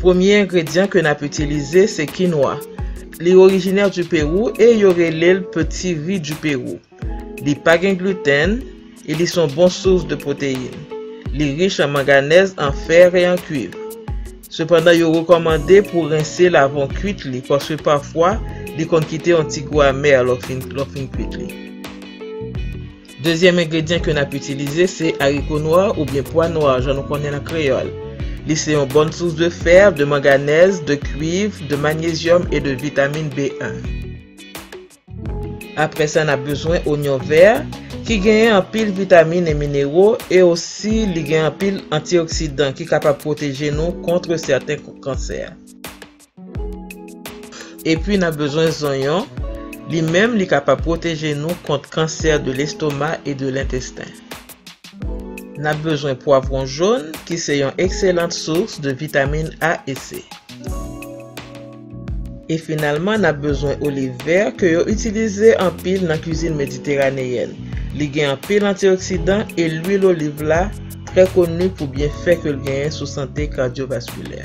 Premye engredyan ke nap itilize se kinwa. Li orijinè du Pérou e yo rele l peti ri du Pérou. Li pa gen gluten e li son bon source de proteine. Li rich an manganèz, an fer e an kuiv. Sepandan yo rekòmande pou rense l avan w kuit li paske pafwa li konn kite yon ti gou amè lè w fin kwit li. Dezyèm engredyan ke nap itilize se ariko nwa oubyen pwa nwa jan nou konnen l an kreyòl. Li se yon bòn sous de fer, de manganèz, de kuiv, de manyezyòm e de vitamin B1. Aprè sa nap bezwen onyon vè ki genyen anpil vitamin e minero e osi li gen anpil antioksidan ki kapab pwoteje nou kontre sèten kansè. Epi nap bezwen zonyon, li menm li kapab pwoteje nou kont kansè de lestoma e de lentesten. Nap bezwen pwavron jon ki se yon ekselant source de vitamin A e C. E finalman nap bezwen oliv vè ke yo itilize anpil nan kwizin mediteraneyèn, li gen anpil antioksidan e lwil oliv la trè koni pou byenfè ke l genyen sou sante kardyovaskilè.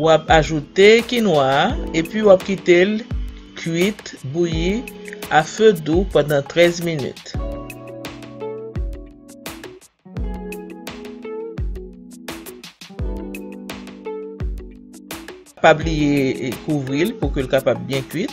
Wap ajoute kinwa a epi wap kite l kwit, bouyi, a fe dou pandan 13 minit. Pa bliye kouvri l pou ke l kapab byen kwit.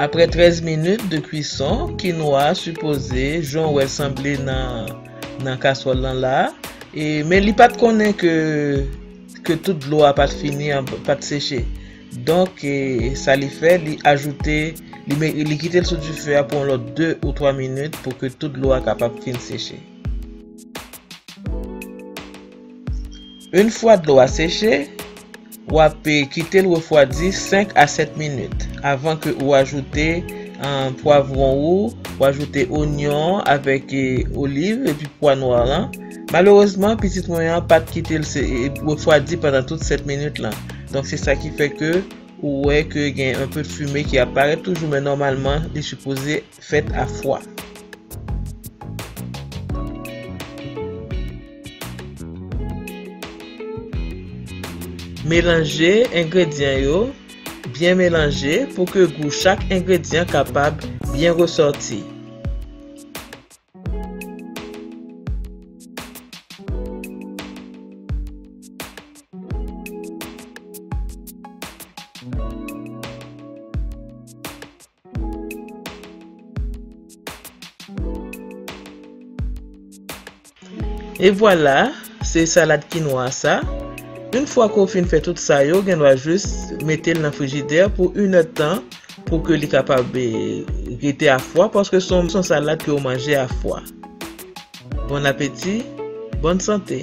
Aprè 13 minit de kwison kinwa a sipoze jan w wè sanble nan nan kaswòl lan la e men li pat konnen ke ke tout dlo a pat fini pat seche donk sa li fè li ajoute li kite l sou dife a pou yon lòt 2 ou 3 minit pou ke tout dlo a kapab fin seche. Une fwa dlo a seche, ou ap kite l refwadi 5 a 7 minit avan ke ou ajoute pwavron ou, ou ajoute onyon an avèk oliv epi pwa nwa lan. Malerezman pitit mwen an pat kite l refwadi pandan tout 7 minit lan. Donk se sa ki fè ke ou wè ke gen un peu de fumée ki ap parèt toujou men nòmalman li sipoze fèt a fwa. Melanje engredyan yo, byen melanje pou ke gou chak engredyan kapab byen resòti. E vwala, se salad kinwa sa. Yn fwa ke w fin fè tout sa yo, gen dwa jis mete l nan frijidè pou yn èd tan pou ke li kapab rete a fwa paske se yon salad ke w manje a fwa. Bon apeti, bòn sante!